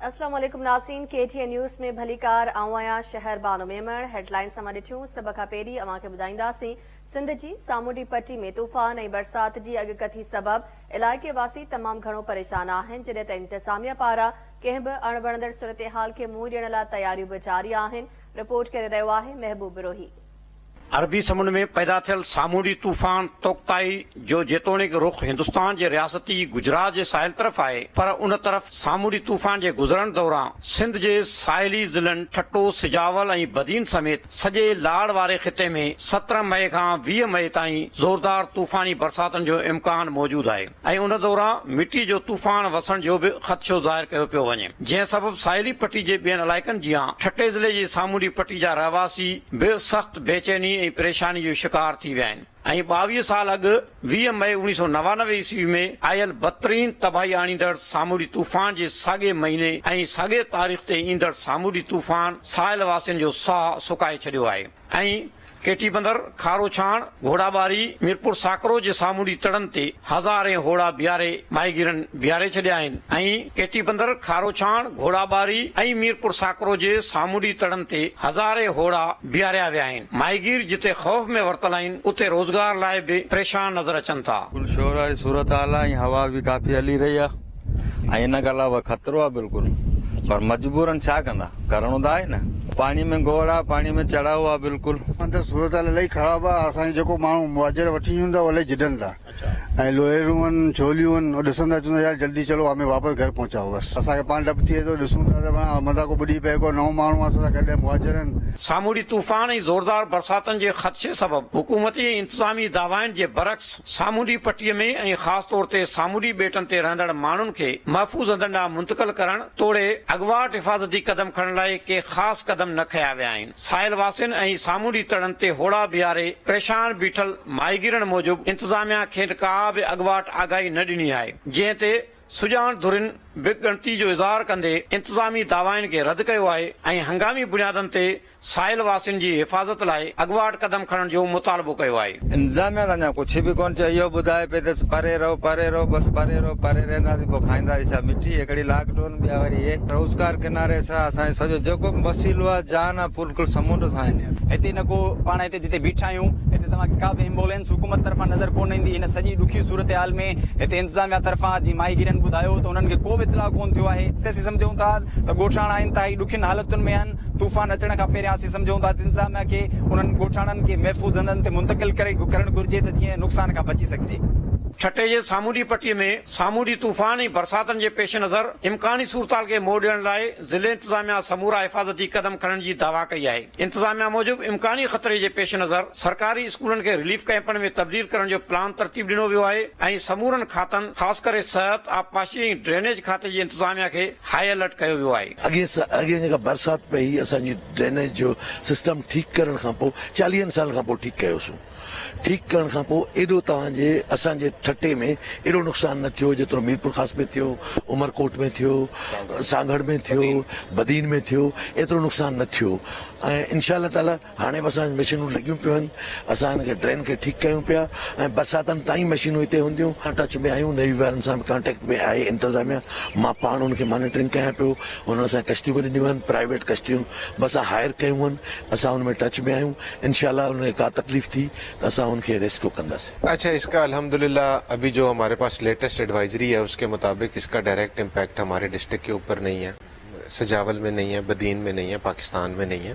اسلام عليڪم ناظرين ڪي ٽي اين نيوز ۾ ڀليڪار آئون آهيان شهر بانو ميمڻ هيڊ لائنس اوهان ڏٺيون سڀ کان پهرين اوهان کي ٻڌائينداسين سنڌ جي سامونڊي پٽي ۾ طوفان ۽ برسات جي اڳڪٿي سبب علائقي واسي تمام گهڻو پريشان آهن جڏهن ته انتظاميا پاران ڪنهن به اڻ وڻندڙ صورتحال کي منهن ڏيڻ لاء تياريون به جاري آهن رپورٽ ڪري رهيو آهي محبوب بروهي عربي سمنڊ ۾ پيدا ٿيل سامونڊي طوفان توڪتائي جو جيتوڻيڪ رخ هندستان جي رياستي گجرات جي ساحل طرف آهي پر ان طرف سامونڊي طوفان جي گذرڻ دوران سنڌ جي ساحلي ضلعن ٺٽو، سجاول ۽ بدين سميت سڄي لاڙ واري خطي ۾ سترهن مئي کان ويهه مئي تائين زوردار طوفاني برساتن جو امڪان موجود آهي. ۽ ان دوران مٽي جو طوفان وسڻ جو به خدشو ظاهر ڪيو پيو وڃي جنهن سبب ساحلي پٽي جي ٻين علائقن جيان ٺٽي ضلعي جي سامونڊي پٽي جا رهواسي به سخت بيچيني ۽ پريشاني جو شڪار ٿي ويا آهن ۽ ٻاويهه سال اڳ ويهه مئي اوڻيهه سؤ نوانوي عيسوي ۾ آيل بدترين تباهي آڻيندڙ سامونڊي طوفان جي ساڳئي مهيني ۽ ساڳئي تاريخ تي ايندڙ سامونڊي طوفان ساحل واسين جو ساهه سڪائي ڇڏيو آهي ۽ ڪيٽي بندر، کارو ڇاڻ، گهوڙا ٻاري، ميرپور ساڪرو جي سامونڊي تڙن تي هزارين هوڙا بيهاري ماهيگيرن بيهاري ڇڏيا آهن ۽ ڪيٽي بندر، کارو ڇاڻ، گهوڙا ٻاري ۽ ميرپور ساڪرو جي سامونڊي تڙن تي هزارين هوڙا بيهاريا ويا آهن. ماهيگير جتي خوف ۾ ورتل آهن اتي روزگار لاء به پريشان نظر اچن ٿا. گلشورا جي صورتحال ۽ هوا به ڪافي هلي رهي آهي. ائين نه ڳالهاء بابا خطرو آهي بلڪل پر مجبورن ڇا ڪندا ڪرڻو ته آهي نه پاڻي ۾ گوڙ آهي پاڻي ۾ چڙهاء آهي بلڪل. اندر صورتحال الاهي خراب آ اسان کي جيڪو ماڻهو مهاجر وٺي اچن ٿا اهي الاهي جڏن ٿا ۽ لوهيرون آهن ڇوليون آهن اهي ڏسن ٿا چون ٿا يار جلدي چلو همي واپس گهر پهچائو بس اسان کي پاڻ ڊپ ٿئي ٿو ڏسون ٿا ته پاڻ متان ڪو ٻڏي پئي ڪو نئون ماڻهو آهي اسان سان گڏ ۽ مهاجر آهن. سامونڊي طوفان ۽ زوردار برساتن جي خدشي سبب حڪومتي ۽ انتظامي دعوائن جي برعڪس سامونڊي پٽي ۾ ۽ خاص طور تي سامونڊي ٻيٽن تي رهندڙ ماڻهن کي محفوظ هنڌن ڏانهن منتقل ڪرڻ توڙي اڳواٽ حفاظتي قدم کڻڻ لاء ڪي خاص قدم نه کنيا ويا آهن. ساحل واسين ۽ سامونڊي تڙن تي هوڙا بيهاري پريشان بيٺل ماهيگيرن موجب انتظاميا کين ڪا به اڳواٽ آگاهي نه ڏني آهي جنهن تي سڄاڻ ڌرين به ڳڻتي جو اظهار ڪندي انتظامي دعوائن کي رد ڪيو آهي ۽ هنگامي بنيادن تي ساحل واسين جي حفاظت لاء اڳواٽ قدم کڻڻ جو مطالبو ڪيو آهي. انتظاميا ته اڃا ڪڇ به ڪونه چيو اهو ٻڌائي پئي ته پري رهو پري رهو بس پري رهو پري رهنداسين پوء کائينداسين ڇا مٺي هڪڙي لاڪ ڊون ٻيا وري اهي روزگار ڪناري سان اسان جو سڄو جيڪو به وسيلو آهي جان آهي بلڪل سمنڊ سان آهي. هتي نه ڪو پاڻ هتي جتي بيٺا آهيون هتي توهان کي ڪا به ايمبولينس حڪومت طرفان نظر ڪونه ايندي هن سڄي ڏکي صورتحال ۾ هتي انتظاميا طرفان جي ماهيگيرن ٻڌايو ته انهن کي ڪو به اطلاع ڪونه ٿيو آهي. اسين سمجهون ٿا ته ڳوٺاڻا انتهائي ڏکين حالتن ۾ آهن طوفان اچڻ کان پهريان اسين سمجهون ٿا ته انتظاميا کي انهن ڳوٺاڻن کي محفوظ هنڌن تي منتقل ڪري ڪرڻ گهرجي ته جيئن نقصان کان بچي سگهجي. ٺٽي جي سامونڊي پٽي ۾ سامونڊي طوفان ۽ برساتن جي پيش نظر امڪاني صورتحال کي منهن ڏيڻ لاء ضلعي انتظاميا سمورا حفاظتي قدم کڻڻ جي دعويٰ ڪئي آهي. انتظاميا موجب امڪاني خطري جي پيش نظر سرڪاري اسڪولن کي رليف ڪئمپن ۾ تبديل ڪرڻ جو پلان ترتيب ڏنو ويو آهي ۽ سمورن کاتن خاص ڪري صحت، آبپاشي ۽ ڊرينيج کاتي جي انتظاميا کي هاء الرٽ ڪيو ويو آهي. اڳين جيڪا برسات پئي هئي اسان جي ڊرينيج جو سسٽم ٺيڪ ڪرڻ کان پوء چاليهن سالن کان پوء ٺيڪ ڪيوسون ٺيڪ ڪرڻ کان پوء ايڏو توهان جي اسان جي ٺٽي ۾ ايڏو نقصان نه ٿيو جيترو ميرپورخاص ۾ ٿيو عمرڪوٽ ۾ ٿيو سانگهڙ ۾ ٿيو بدين ۾ ٿيو ايترو نقصان نه ٿيو ۽ انشاء الله تعالي هاڻي به اسان وٽ مشينون لڳيون پيون آهن اسان هن کي ڊرين کي ٺيڪ ڪيون پيا ۽ برساتن تائين مشينون هتي هونديون اسان ٽچ ۾ آهيون نيوي وارن سان به ڪانٽيڪٽ ۾ آهي انتظاميا مان پاڻ ان کي مانيٽرنگ ڪيان پيو انهن اسان کي ڪشتيون به ڏنيون آهن پرائيويٽ ڪشتيون به اسان هائر ڪيون آهن اسان ان ۾ ٽچ ۾ آهيون انشاء الله انهن کي ڪا تڪليف ٿي ته اسان ان کي ريسڪيو ڪنداسين. اچھا اس کا الحمد للہ ابھی جو ہمارے پاس لیٹسٹ ایڈوائزری ہے اس کے مطابق اس کا ڈائریکٹ امپیکٹ ہمارے ڈسٹرکٹ کے اوپر نہیں ہے سجاول میں نہیں ہے بدین میں نہیں ہے پاکستان میں نہیں ہے۔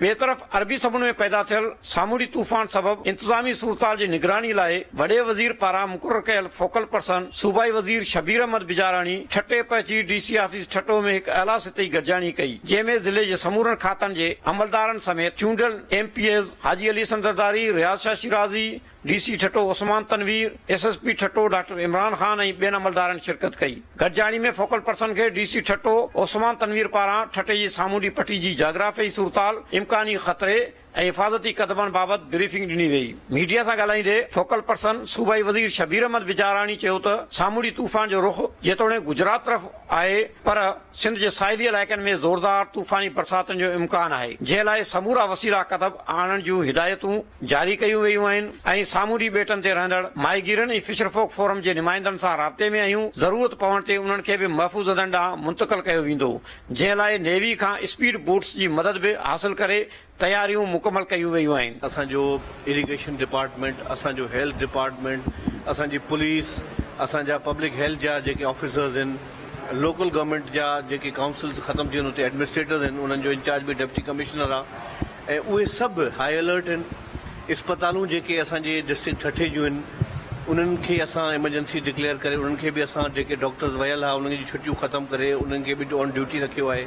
ٻئي طرف عربي سمنڊ ۾ پيدا ٿيل سامونڊي طوفان سبب انتظامي صورتحال جي نگراني لاء وڏي وزير پاران مقرر ڪيل فوڪل پرسن صوبائي وزير شبير احمد بجاراڻي ٺٽي پهچي ڊي سي آفيس ٺٽو ۾ هڪ اعليٰ سطحي گڏجاڻي ڪئي جنهن ۾ ضلعي جي سمورن کاتن جي عملدارن سميت چونڊيل M P As Haji Ali Hassan Zardari, Riaz Shah Shirazi, D C Thatta Usman Tanveer, S S P Thatta doctor Imran Khan ۽ ٻين عملدارن شرڪت ڪئي. گڏجاڻي ۾ فوڪل پرسن کي ڊي سي ٺٽو عثمان تنوير پاران ٺٽي جي سامونڊي پٽي جي جاگرافيائي صورتحال، امڪاني خطري ۽ حفاظتي قدمن بابت بريفنگ ڏني ويئي. ميڊيا سان ڳالهائيندي فوڪل پرسن صوبائي وزير شبير احمد بجاراڻي چيو ته سامونڊي طوفان جو رخ جيتوڻيڪ گجرات طرف آهي پر سنڌ جي ساحلي علائقن ۾ زوردار طوفاني برساتن جو امڪان آهي جنهن لاء سمورا وسيلا قدم آڻڻ جون هدايتون جاري ڪيون ويون آهن ۽ سامونڊي ٻيٽن تي رهندڙ ماهيگيرن ۽ فشرفوڪ فورم جي نمائندن سان رابطي ۾ آهيون ضرورت پوڻ تي انهن کي به محفوظ هنڌن ڏانهن منتقل ڪيو ويندو جنهن لاء نيوي کان اسپيڊ بوٽس جي مدد به حاصل ڪري تياريون مڪمل ڪيون ويون آهن. اسان جو اريگيشن ڊپارٽمينٽ، اسان جو هيلٿ ڊپارٽمينٽ، اسان جي پوليس، اسان جا پبلڪ هيلٿ جا جيڪي آفيسرز هن، لوڪل گورنمينٽ جا جيڪي ڪائونسلز ختم ٿي وين اتي ايڊمنسٽريٽرز هن انهن جو انچارج به ڊپٽي ڪمشنر آ ۽ اهي سڀ هائي الرٽ هن. اسپتالون جيڪي اسان جي ڊسٽرڪٽ ٺٽي جون هن انهن کي اسان ايمرجنسي ڊڪليئر ڪري انهن کي به اسان جيڪي ڊاڪٽرز ويل ها انهن جون ڇٽيون ختم ڪري انهن کي به آن ڊيوٽي رکيو آهي.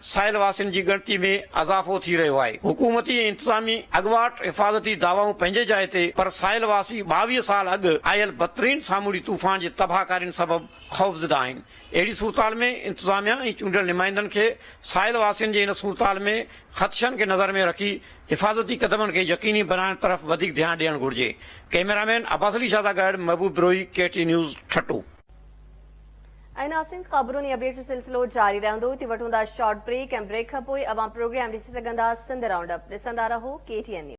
ساحل واسين جي ڳڻتي ۾ اضافو ٿي رهيو آهي، حڪومتي ۽ انتظامي اڳواٽ حفاظتي دعوائون پنهنجي جاء تي پر ساحل واسي ٻاويهه سال اڳ آيل بدترين سامونڊي طوفان جي تباهڪارين سبب خوفزده آهن، اهڙي صورتحال ۾ انتظاميا ۽ چونڊيل نمائندن کي ساحل واسين جي ان صورتحال ۾ خدشن کي نظر ۾ رکي حفاظتي قدمن کي يقيني بنائڻ طرف وڌيڪ ڌيان ڏيڻ گهرجي، ڪئميرامين عباسعلي شاهه سان گڏ Mehboob Brohi, K T news, Thatta. ۽ ناسين خبرون ۽ اپڊيٽس جو سلسلو جاري رهندو هتي وٺون ٿا شارٽ بريڪ ۽ بريڪ کان پوء اوهان پروگرام ڏسي سگهندا سنڌ رائونڊ اپ ڏسندا رهو ڪي ٽي اين نيوز.